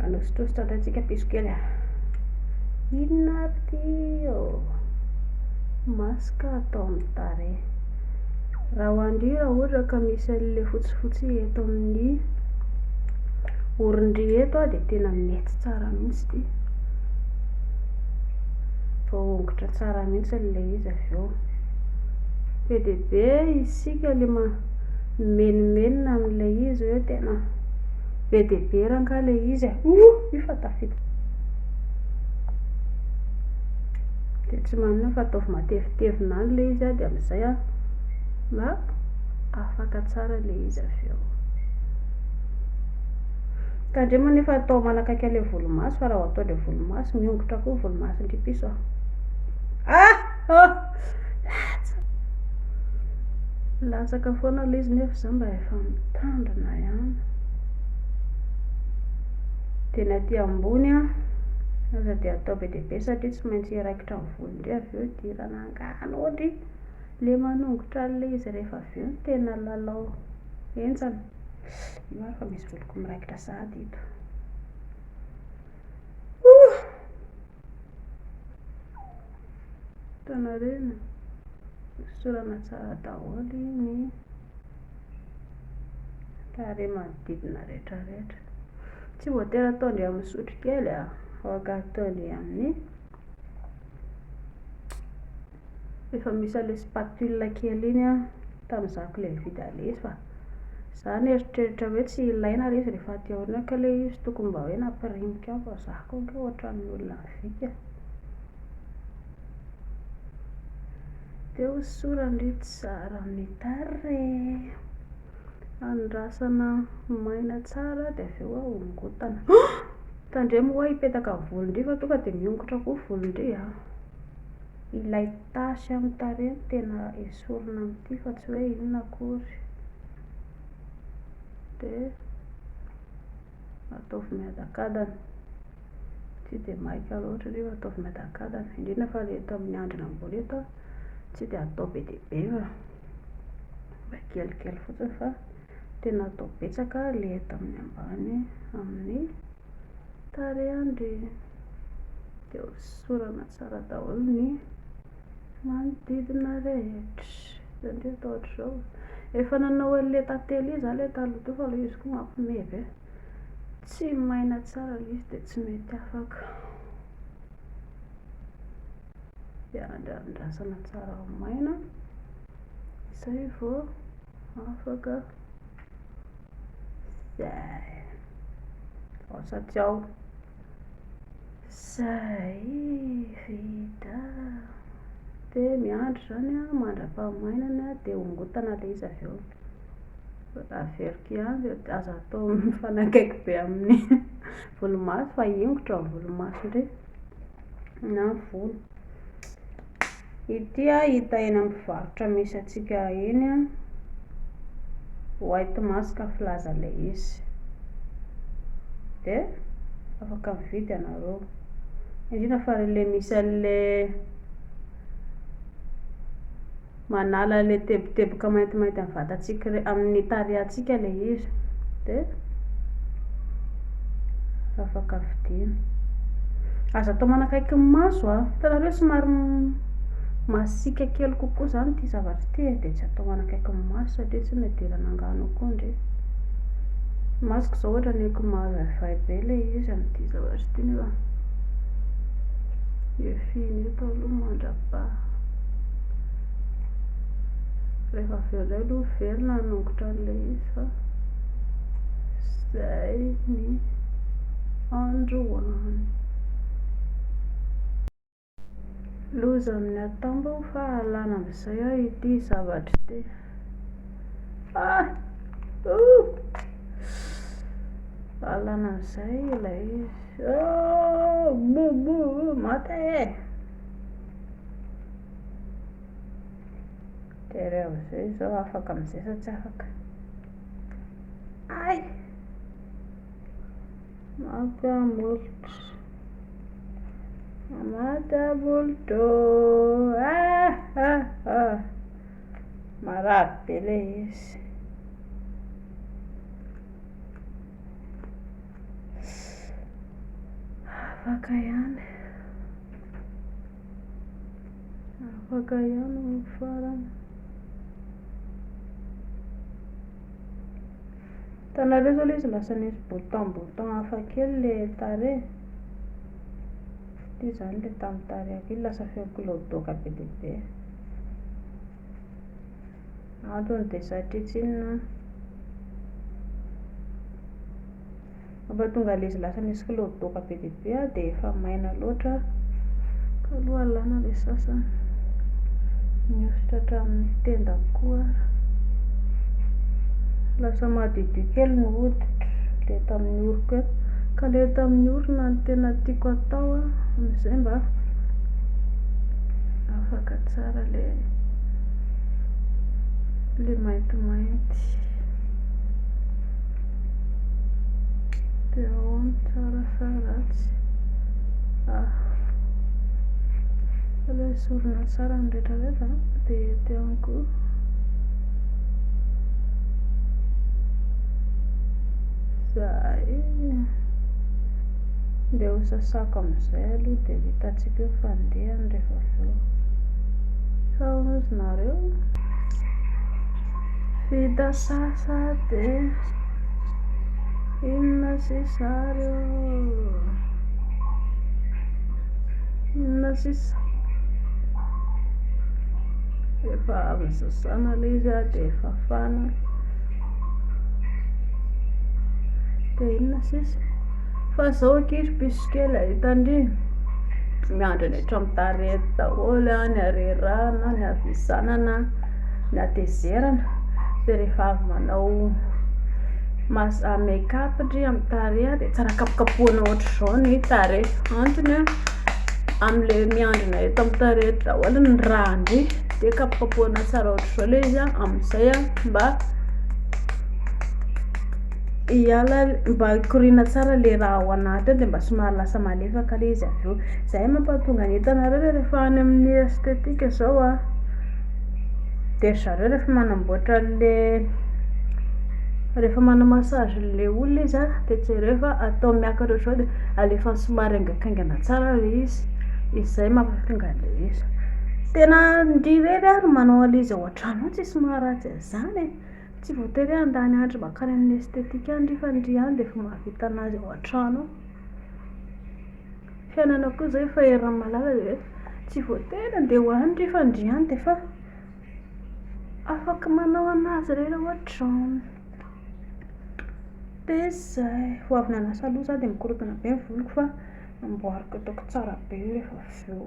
Anositositra indray tsika piso kely a. Inona ary ty ô? Masque atao amin'ny tarehy. Raha ho andry raha ohatra ka misy an'ilay fotsifotsy eto amin'ny orindry eto dia tena mety tsara mihitsy ity. voahongotra tsara mihitsy ilay izy avy eo. Be dia be isika le mimenomenona amin'ilay izy hoe tena be dia be rangah ilay izy e. Oh, io fa tafita. Dia tsy manina fa ataovy matevitevina any ilay izy dia amin'izay an, mba afaka tsara ilay izy avy eo. Tandremo anefa atao manakaiky an'ilay volomaso fa raha atao ilay volomaso, miongotra koa ny volomason'ity piso a! Ah! Oh! Latsa! Latsaka foana aloha izy nefa izaho mba efa mitandrina ihany. Dia ny aty ambony a, aza dia atao be dia be satria tsy maintsy hiraikitra ny volo indray avy eo hidirana angano hoatry ilay manongotra an'ilay izy rehefa avy eo ny tena lalao henjana. Ino ary fa misy voloko miraikitra sahady eto. Ouh! Hitanareo iny? Hosorana tsara daholo ny tarehy manodidina rehetra rehetra. Tsy voatery ataondry amin'ny sotrokely a, ah. afaka ataondry amin'ny Efa misy an'ilay spatule kely iny an, tamin'izaho kely nividy an'ilay izy fa izaho nieritreritra hoe tsy ilaina ilay izy rehefa aty aoriana kay ilay izy, tokony mba hoe nampirimiko ihany fa izaho kay ange ohatran'ny olona vika. Dia hosorana io tsara amin'ny tarehy, andrasana maina tsara dia avy eo ahongotana. Tandremo ho'a hipetaka ny volon-dry fa tonga dia miongotra koa ny volon-dry an! Ilay tache amin'ny tarehy no tena esorina amin'ity fa tsy hoe inona akory. Dia ataovy miadakadana. Tsy dia maika loatra nefa ataovy miadakadana. Indrindra fa ilay eto amin'ny andrina ambony eto tsy dia atao be dia be fa mba kelikely fotsiny fa. Tena atao betsaka le eto amin'ny ambany amin'ny tarehindry de hosorana tsara daholo ny manodidina rehetra satria atao hatrizao efa nanao anle tantely za le taloha teo fa le izy ko mampime be tsy maina tsara le izy de tsy mety afaka de andrasana tsara ho maina zay vo Afaka. Zay. Ao sady ao. Zay vita. Dia miandry izany an, mandra-pahamainany an, dia hongotana ilay izy avy eo. Averiko ihany dia aza atao mifanakaiky be amin'ny volomaso fa ahingotra ny volomaso indray na ny volo. Ity hita eny amin'ny mpivarotra misy antsika eny white mask filaza ilay izy dia afaka mividy ianareo indrindra fa ilay misy an'ilay manala ilay teboteboka maintimainty amin'ny vatantsika amin'ny tarehantsika ilay izy dia afaka vidiana. Aza atao manakaiky ny maso a! Hitanareo somary masiaka kely kokoa izany ity zavatra ity e, dia tsy atao manakaiky ny maso satria tsy nidirana angano ao koa ndry. Ny masoko izao ohatra ny akoho mavaivay be ilay izy amin'ity zavatra ity nefa efiana eto aloha mandra-paha. Rehefa avy eo indray aloha miverina hanongotra an'ilay izy fa. izay ny androany. Loza amin'ny atambo fa alana amin'izay aho ity zavatra ity. Ah! Uh! Alana amin'izay ilay izy. Oh! Mo, mo, mate e! Tery amin'izay izao afaka amin'izay sa tsy afaka? Ay! Maka molotra. Maka molotra. Ah, ah, ah. Marary be ilay izy. Afaka ihany. Afaka ihany ny farany. Hitanareo zao le izy lasa nisy bouton bouton hafa kely le tarehy. Fitia zany le tamin'ny tarehako iny lasa feo kilaodoaka be dia be. Antony dia satria tsy inona mampatonga ilay izy lasa misy kilaodaoka be dia be dia efa maina loatra ka aloha alana ilay sasany, mihosotra hatramin'ny tenda koa ary lasa madiodio kely ny hoditra, ilay tamin'ny oriko eo, ka ilay tamin'ny orona no tena tiako atao an, amin'izay mba afaka tsara ilay. le maintimainty de ahoana tsara sa ratsy ah alo esorina tsara ny retraretra de ety amiko zay Ndeha ho sasako amin'izay aloha dia ho hitantsika eo fandehany rehefa avy eo. Sao hozy nareo? Vita sasa dia inona sisa ary ô? Inona sisa? Rehefa avy nisasana ilay izy aho dia fafana. Dia inona sisa? Fa zao akia ry piso kely a, hitanry miandry any an-trano tarehy daholo a, ny harerahana, ny havizanana, ny hatezerana, dia rehefa avy manao make up ndry amin'ny tarehy dia tsara kapokapohina ohatr'izao ny tarehy, antony a, amin'ilay miandrina eto amin'ny tarehy eto daholo ny rà-ndry, dia kapokapohina tsara ohatr'izao ilay izy a, amin'izay a mba. Hiala mba hikoriana tsara le raha ao anaty ao de mba somary lasa malefaka le izy avy eo. Zay mampahatonga ny entanareo le rehefa any amin'ny esthetique zao a, de ry zareo rehefa manamboatra an'le, rehefa manao massage an'le olona izy a de jereo fa atao miakatra ohatran'izao de alefany somary haingankaingana tsara le izy, izay mampahatonga an'le izy. Tena ndry irery ary manao an'le izy ao an-trano ao tsisy maharatsy an'izany e. Tsy voatery hoe handany andro mankany amin'ny esthétique any ry fa ny ry any dia efa mahavita anazy ao an-trano ao. Fiainana koa izao efa eran'ny malala dia hoe tsy voatery handeha ho any ry fa ny ry any dia efa afaka manao anazy irery ao an-trano. Dia izay, vao avy nanasa loha izaho dia mikorontana be ny voloko fa namboariko ataoko tsara be rehefa avy eo.